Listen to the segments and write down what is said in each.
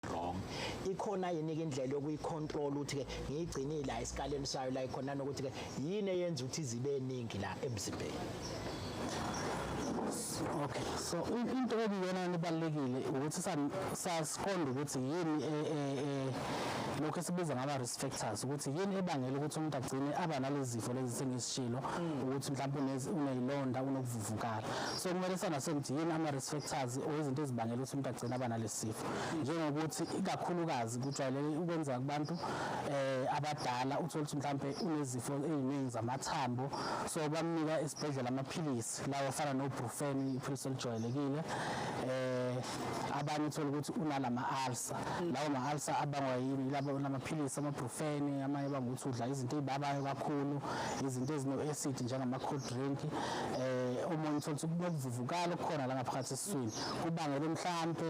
wrong ikhona yini ke indlela yokuyicontrol ukuthi ke ngiyigcinile la esikaleni sayo la ikhona nokuthi ke yini eyenza ukuthi zibe eningi la emzimbeni okay so into ebiyona nibalekile ukuthi sasiqonda ukuthi yini e, e, e, lokho esibiza ngaba risk factors ukuthi yini ebangela ukuthi umuntu agcine aba nalezi zifo lezi sengizishilo mm. ukuthi mhlawumbe unezilonda unokuvuvukala so kumele sana sengithi yini ama risk factors or izinto ezibangela ukuthi umuntu agcine aba nalesifo njengokuthi ikakhulukazi kujwayeleke ukwenzeka kubantu eh abadala uthola ukuthi mhlambe unezifo eziningi zamathambo so bamnika esibhedlela amaphilisi lawo afana no brufen iphilisi elijwayelekile eh abanye uthola ukuthi unalama ulcer lawo ma ulcer abangwa yini labo namaphilisi ama brufen amanye bangukuthi udla izinto ezibabayo kakhulu izinto ezino acid njengama cold drink eh omunye uthola ukuthi kunokuvuvukala okukhona la ngaphakathi esiswini kubangelwe mhlampe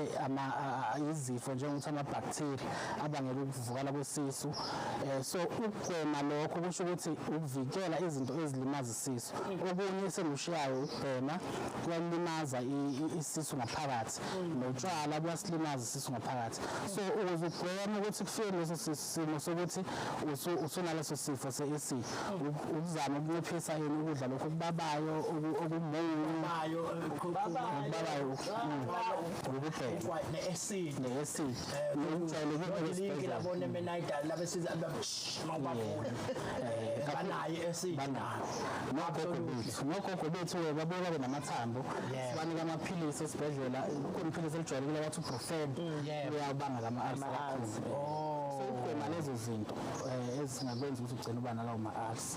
izifo njengokuthi amabhaktheri abangela ukuvukala kwesisu um so ukugwema lokho kusho ukuthi ukuvikela izinto ezilimaza isisu okunye esengikushiyayo ukubhema kuyalimaza isisu ngaphakathi notshwala buyasilimaza isisu ngaphakathi so ukuze ugweme ukuthi kufike leso sisu simo sokuthi usunaleso sifo se-ac ukuzama ukunciphisa yini ukudla lokhu okubabayo okumubabayo ububheke ne-ac nokujwayelekile abone menayidali labesiza mawubagula banaye ac nogogo bethu nogogo bethu babuye babe namathambo sibanika amaphilisi esibhedlela kunephilisi elijwayelekile wathi ubrofed uyawubanga lama azi oh. so ukugwema lezo zinto eh, ezingakwenza ukuthi ugcine uba nalawo ma-arts